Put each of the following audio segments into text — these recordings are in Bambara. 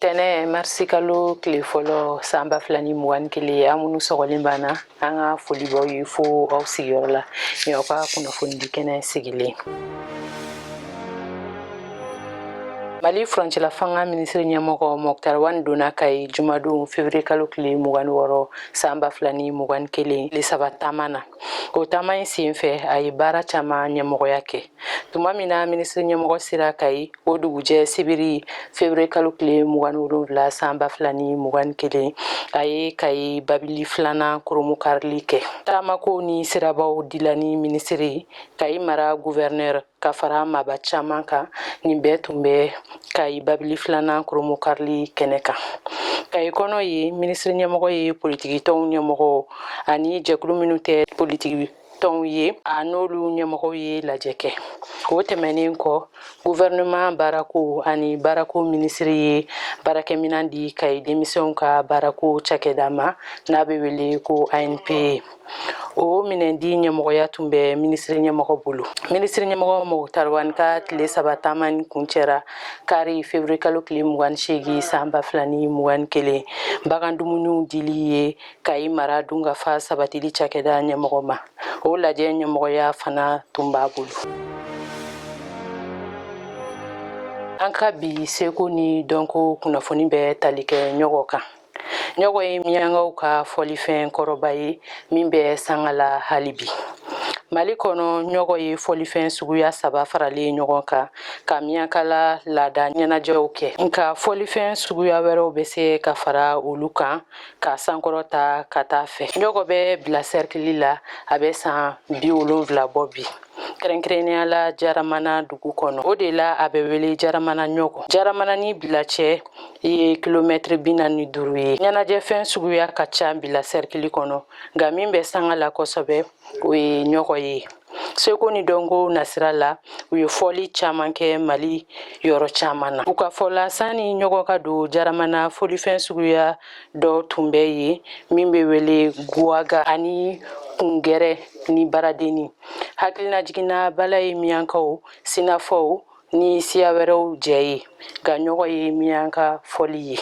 tɛnɛ marisi kalo tile fɔlɔ san ba fila ni mugan ni kelen aw minnu sɔgɔlen b'an na an ka foli b'aw ye fo aw sigiyɔrɔ la ni aw ka kunnafonidi kɛnɛ sigilen mali furancɛla fanga minisiri ɲɛmɔgɔ mɔkutari wani donna kayi jumadon fevriye kalo tile mugan ni wɔɔrɔ san ba fila ni mugan ni kelen tile saba taama na o taama in sen fɛ a ye baara caaman ɲɛmɔgɔya kɛ tuma min na minisiri ɲɛmɔgɔ sera kayi o dugujɛ sibiri febere kalo tile mugan ni wolonwula san ba fila ni mugan ni kelen a ye kayi babili filanan kurunbonkarili kɛ taamako ni sirabaw dilanni minisiri kayi mara guvɛrinɛr ka fara maaba caman kan nin bɛɛ tun bɛ kayi babili filanan kurunbonkarili kɛnɛ kan kayi kɔnɔ yen minisiri ɲɛmɔgɔ ye politikitɔnw ɲɛmɔgɔw ani jɛkulu minnu tɛ politiki tɔnw ye a n'olu ɲɛmɔgɔw ye lajɛ kɛ o tɛmɛnen kɔ guvɛrɛnɛman baarako ani baarako minisiri ye baarakɛminɛn di kayi denmisɛnw ka baarako cakɛda ma n'a bɛ wele ko anpe o minɛndi ɲɛmɔgɔya tun bɛ minisiri ɲɛmɔgɔ bolo minisiri ɲɛmɔgɔ mɔkutari wani ka tile saba taamani kuncɛra kari feburuye kalo tile mugan seegin san ba fila ni mugan kelen bagan dumuniw dili ye kayi mara dunkafa sabatili cakɛda ɲɛmɔgɔ ma o lajɛ ɲɛmɔgɔya fana tun b'a bolo an ka bi seko ni dɔnko kunnafoni bɛ tali kɛ ɲɔgɔ kan ɲɔgɔ ye miyankaw ka fɔlifɛn kɔrɔba ye min bɛ sanga la hali bi mali kɔnɔ ɲɔgɔ ye fɔlifɛn suguya saba faralen ɲɔgɔn kan ka miyankala laada ɲɛnajɛw kɛ nka fɔlifɛn suguya wɛrɛw bɛ se ka fara olu kan k'a sankɔrɔta ka t'a fɛ ɲɔgɔ bɛ bila sɛrikili la a bɛ san bi wolonfila bɔ bi kɛrɛnkɛrɛnnenya la jaramana dugu kɔnɔ o de la a bɛ wele jaramana ɲɔgɔ jaramana ni bila cɛ ye kilomɛtiri bi naani ni duuru ye ɲɛnajɛfɛn suguya ka ca bila sɛrikili kɔnɔ nka min bɛ sanga la kosɛbɛ o ye ɲɔgɔ ye seko ni dɔnko nasira la u ye fɔli caman kɛ mali yɔrɔ caman na u ka fɔ la sanni ɲɔgɔ ka don jaramana fɔlifɛn suguya dɔ tun bɛ yen min bɛ wele guwaga ani kungɛrɛ ni baradenni hakilinajigin na bala ye miyankaw sinafɔw ni siya wɛrɛw jɛ ye nka ɲɔgɔ ye miyanka fɔli ye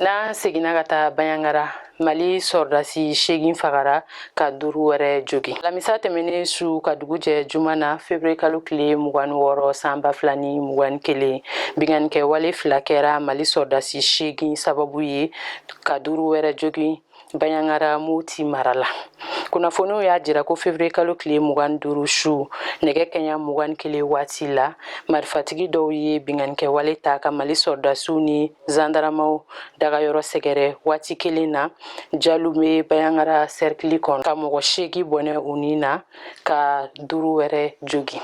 n'an seginna ka taa banjagara mali sɔrɔdasi seegin fagara ka duuru wɛrɛ jogin alamisa tɛmɛnen su ka dugu jɛ juma na febere kalo tile mugan ni wɔɔrɔ san ba fila ni mugan kelen binkannikɛwale fila kɛra mali sɔrɔdasi seegin sababu ye ka duuru wɛrɛ jogin baɲagara moti mara la kunnafoniw y'a jira ko fevrier kalo tile mugan duuru su nɛgɛ kɛɲɛ mugan kelen waati la marifatigi dɔw ye binganikɛwale ta ka mali sɔrɔdasiw ni zandaramaw dagayɔrɔ sɛgɛrɛ waati kelen na jalube baɲagara sɛrikili kɔnɔ ka mɔgɔ seegin bɔnɛ u ni na ka duuru wɛrɛ jogin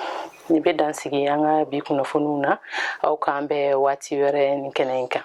Nin bɛ dan sigi an ka bi kunnafoniw na aw k'an bɛn waati wɛrɛ nin kɛnɛ in kan